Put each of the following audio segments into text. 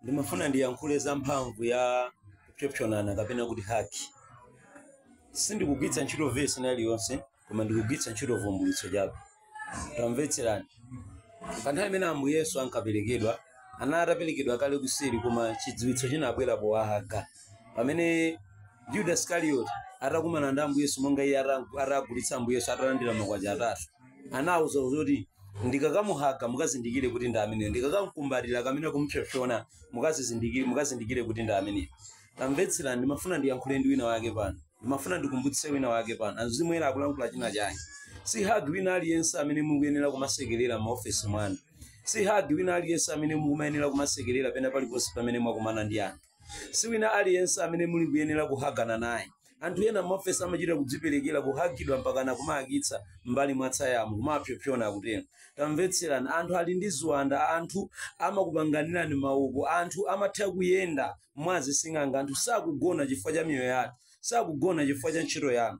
ndimafuna ndiyankhule za mphamvu ya kupsopsonana kapena kuti hagi sindikugwiritsa ntchito vesi iliyonse koma ndikugwiritsa ntchito vumbulutso chabe tamvetserani pa nthawi imene ambuye yesu ankaperekedwa anali ataperekedwa kale kuseri koma chidziwitso chinabwera powahaga pamene yuda iskarioti atakumana ndi ambuye yesu monga iye ata- atagulitsa ambuye yesu atalandira makwacha atatu anauza kuti ndikakamuhaga mukazindikire kuti ndi ameneyo ndikakamkumbatira kapena kumupsopsona mukazizindikire mukazindikire kuti ndi ameneyo tamvetserani ndimafuna ndiyankhule ndi wina wake pano ndimafuna ndikumbutse wina wake pano azimwera akulankhula china chake si hagi wina aliyense amene mukuyenera kumasekerera m'maofesi mwanu si hagi wina aliyense amene mukumayenera kumasekerera pena paliponse pamene mwakumana ndi anthu si wina aliyense amene muli kuyenera kuhagana naye anthu ena m'maofesi amachita kudziperekera kuhagidwa mpakana kumahagitsa mbali mwa tsayamu kumapyopyona akutero tamvetserani anthu ali ndi ziwanda anthu amakupanganirani maupo anthu amatha kuyenda mwa zising'anga anthu sakugona chifukwa cha miyoyo yathu sakugona chifukwa cha ntchito yanu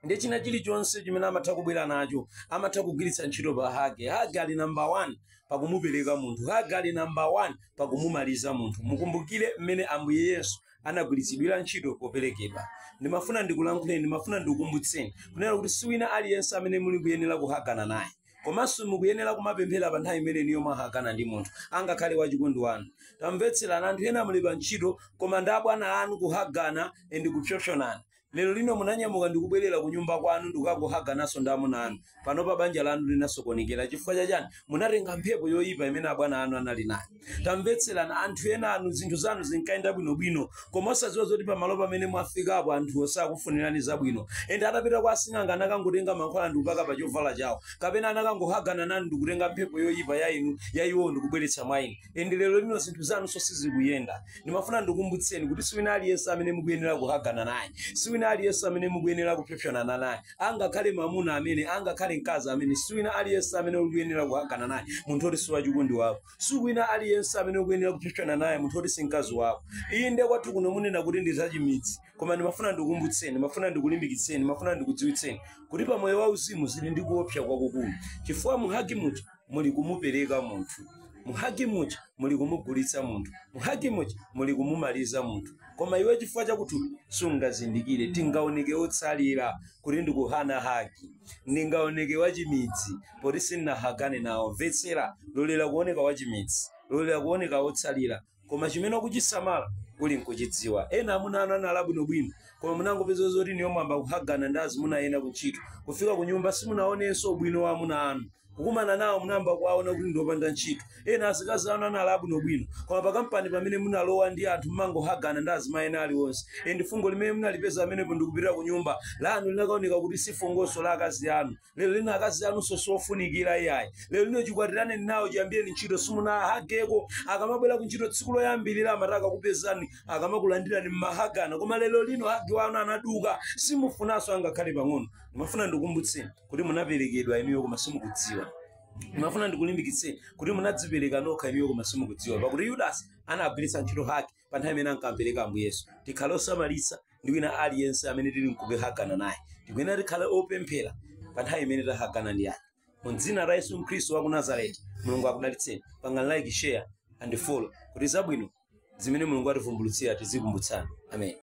ndi china chilichonse chimene amatha kubwera nacho amatha kugwiritsa ntchito pa hagi hagi ali number one pakumupereka munthu hagi ali number one pakumumaliza munthu mukumbukire mmene ambuye yesu anagwiritsidwira ntchito poperekedwa ndimafuna ndikulankhuleni ndimafuna ndikukumbutseni kunena kuti si wina aliyense amene muli kuyenera kuhagana naye komanso mukuyenera kumapemphera pa nthawi imene inuyo mwahagana ndi munthu angakhale wachikondi wanu tamvetserani anthu ena muli pa ntchito koma ndi abwana anu kuhagana ndi kupsopsonana Lero lino munanyamuka ndikubwerera kunyumba kwanu ndikukangohagananso ndi amuna anu. Panopa banja lanu linasokonekera. Chifukwa cha chani? Munatenga mphepo yoyipa imene abwana anu anali nayo. Tamvetserani, anthu enanu zinthu zanu zinkayenda bwinobwino koma osadziwa zoti pamalo pamene mwafikapo anthuwo sakufunirani zabwino ende atapita kwa asing'anga anakangotenga mankhwala ndikupaka pa chovala chawo kapena anakangohagana nanu ndikutenga mphepo yoyipa ya inu ya iwowo ndikubweretsa mwa inu. ende lero lino zinthu zanunso sizikuyenda ndimafuna ndikumbutseni kuti si wina aliyense amene mukuyenera kuhagana naye si wina aliyense amene mukuyenera kupsopsonana naye angakhale mamuna amene angakhale mkazi amene si wina aliyense amene ukuyenera kuhagana naye munthu oti si wachikondi wako si wina aliyense amene ukuyenera kupsopsonana naye munthu oti si mkazi wako iyi nde kwathu kuno munena kuti ndi zachimidzi koma ndimafuna ndikukumbutseni ndimafuna ndikulimbikitseni ndimafuna ndikudziwitseni kuti pa moyo wauzimu zili ndi kuopsa kwakukulu chifukwa muhagi muja muli kumupereka munthu muhagi muja muli kumugulitsa munthu muhagi muja muli kumumaliza munthu koma iwe chifukwa chakuthupi sungazindikire ndingaoneke otsalira kuti ndikukana hagi ndingaoneke wachimidzi poti sinnahagane nawo mvetsera lolera kuoneka wachimidzi lolera kuoneka otsalira koma chimene ukuchisamala uli nkuchidziwa ena amuna anu anali abwinobwino koma munangopeza zoti inuyo mwayamba kuhagana ndi azimuna ena kuntchito kufika ku nyumba simunaonenso ubwino wa amuna anu kukumana nawo munayamba kuwaona kuti ndiopanda ntchito ena azikazi anu anali abwinobwino koma pakampani pamene munalowa ndi anthu mmangohagana ndi azimai ena aliwonse ende fungo limene munalipeza pamenepo ndikupita ku nyumba lanu linakaoneka kuti si fungonso la akazi anu lero lino akazi anu siofunikira iyayi lero lino chikwatirane nawo chiyambireni ntchito simunahageko akamabwera ku ntchito tsiku loyambirira amati akakupezani akamakulandirani mmahagana koma lero lino hagi wanu anaduka simufunanso angakhale pang'ono ndimafuna ndikukumbutseni kuti munaperekedwa inuyo koma simukudziwa ndimafuna ndikulimbikitseni kuti munadzipereka nokha inuyo koma simukudziwa pakuti yudasi anagwiritsa ntchito hagi pa nthawi imene ankampereka ambuye yesu tikhale osamalitsa ndi wina aliyense amene tili nkumahagana naye tikuyenera tikhale opemphera pa nthawi imene tahagana ndi anthu mu dzina la yesu khristu wa ku nazareti mulungu akudalitseni pangani like share and follow kuti zabwino zimene mulungu ativumbulutsira tizikumbutsana amen